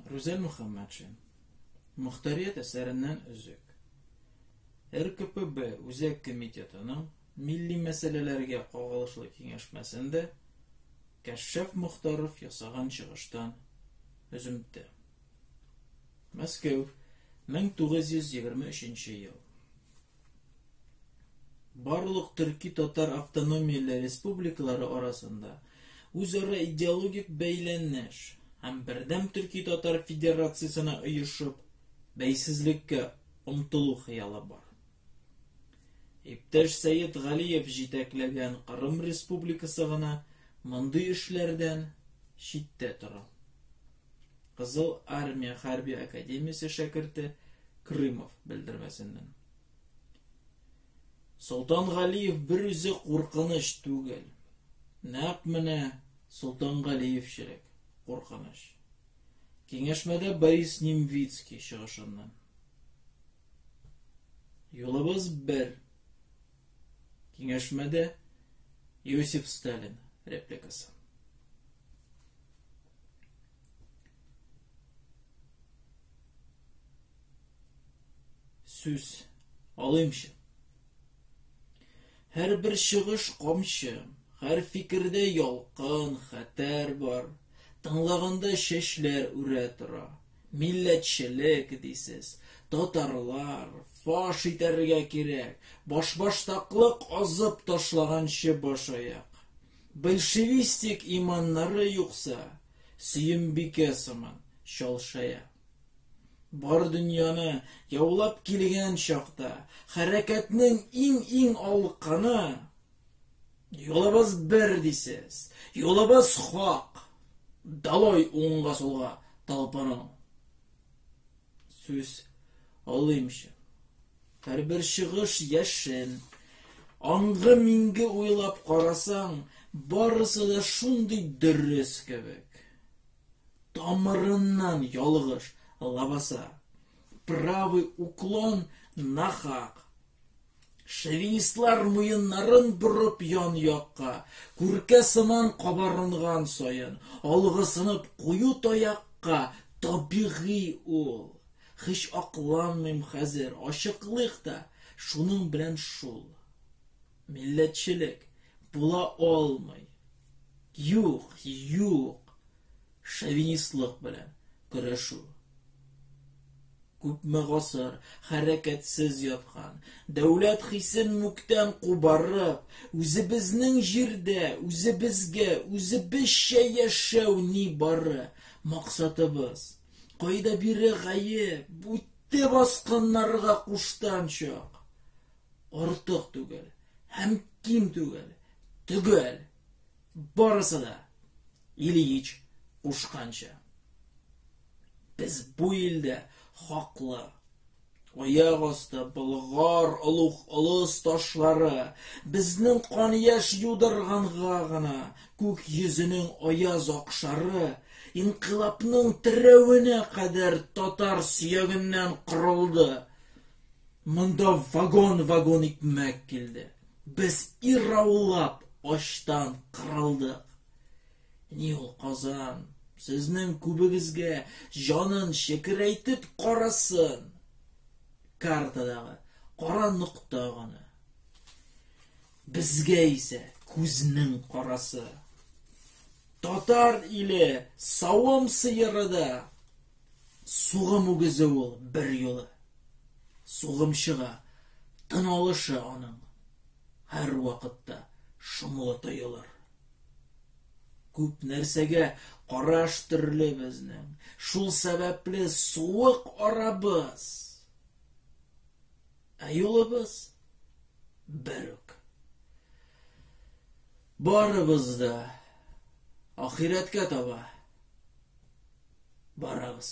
Рүзәл Мөхәммәтшин. Мөхтәрият әсәреннән өзек. РКПБ Үзәк комитетының милли мәсьәләләргә кагылышлы киңәшмәсендә Кәшшәф Мөхтаров ясаган чыгыштан өземтә. Мәскәү, 1923 ел. Барлык төрки татар автономияле республикалары арасында үзара идеологик бәйләнеш һәм бердәм төрки татар федерациясенә оешып, бәйсезлеккә омтылу хыялы бар. Иптәш Сәет Галиев җитәкләгән Кырым республикасы гына мондый эшләрдән читтә тора. Кызыл Армия хәрби академиясе шәкерте Крымов белдермәсеннән. Солтан Галиев бер үзе куркыныч түгел. Нәкъ менә Солтан Галиевчелек куркыныч. Киңәшмәдә Борис Немвицкий чыгышыннан. Юлыбыз бер. Киңәшмәдә Иосиф Сталин репликасы. Сүз алыймчы. Һәр бер чыгыш камчы, һәр фикердә ялкын, хәтәр бар. Тыңлаганда чәчләр үрә тора. Милләтчелек дисез, татарлар, фаш итәргә кирәк, башбаштаклык азып ташлаганчы башаяк. Большевистик иманнары юкса, сөембикә сыман, чалшая. Бар дөньяны яулап килгән чакта, хәрәкәтнең иң-иң алканы, Юлыбыз бер дисез, юлыбыз хак. Далой уңга сулга талпының. Сүз алыймчы. Һәрбер чыгыш яшен. Аңгы минге уйлап карасаң, барысы да шундый дөрес кебек. Тамырыннан ялгыш лабаса. Правый уклон нахак. Шовинистлар муеннарын борып ян якка, күркә сыман кабарынган саен, алгысынып кую таякка табигый ул. Хич акланмыйм хәзер, ачыклык та, шуның белән шул. Милләтчелек була алмый. Юк, юк, шовинистлык белән көрәшү. Күпме гасыр хәрәкәтсез яткан, дәүләт хисен мүктән кубарып, үзебезнең җирдә, үзебезгә, үзебезчә яшәү ни бары максатыбыз. Кайда бире гаеп, бүтте баскыннарга куштанчак. артык түгел һәм ким түгел, төгәл. Барысы да Ильич кушканча. Без бу илдә хаклы. Аяк асты Болгар олуг олыс ташлары безнең кан яш юдырганга гына күк йөзенең аяз акшары инкыйлабның терәвенә кадәр татар сөягеннән корылды. Монда вагон-вагон икмәк килде. Без ираулап ачтан кырылдык. Ни ул Казан, сезнең күбегезгә җанын шекерәйтеп карасын. Картадагы кара нокта гына. Безгә исә күзнең карасы. Татар иле савым сыеры да Сугым үгезе ул бер юлы. Сугым чыга, тын алышы аның. Һәр вакытта шомлы тоелыр. Күп нәрсәгә караш төрле безнең. Шул сәбәпле суык арабыз. Ә юлыбыз бер үк. Барыбыз да ахирәткә таба барабыз.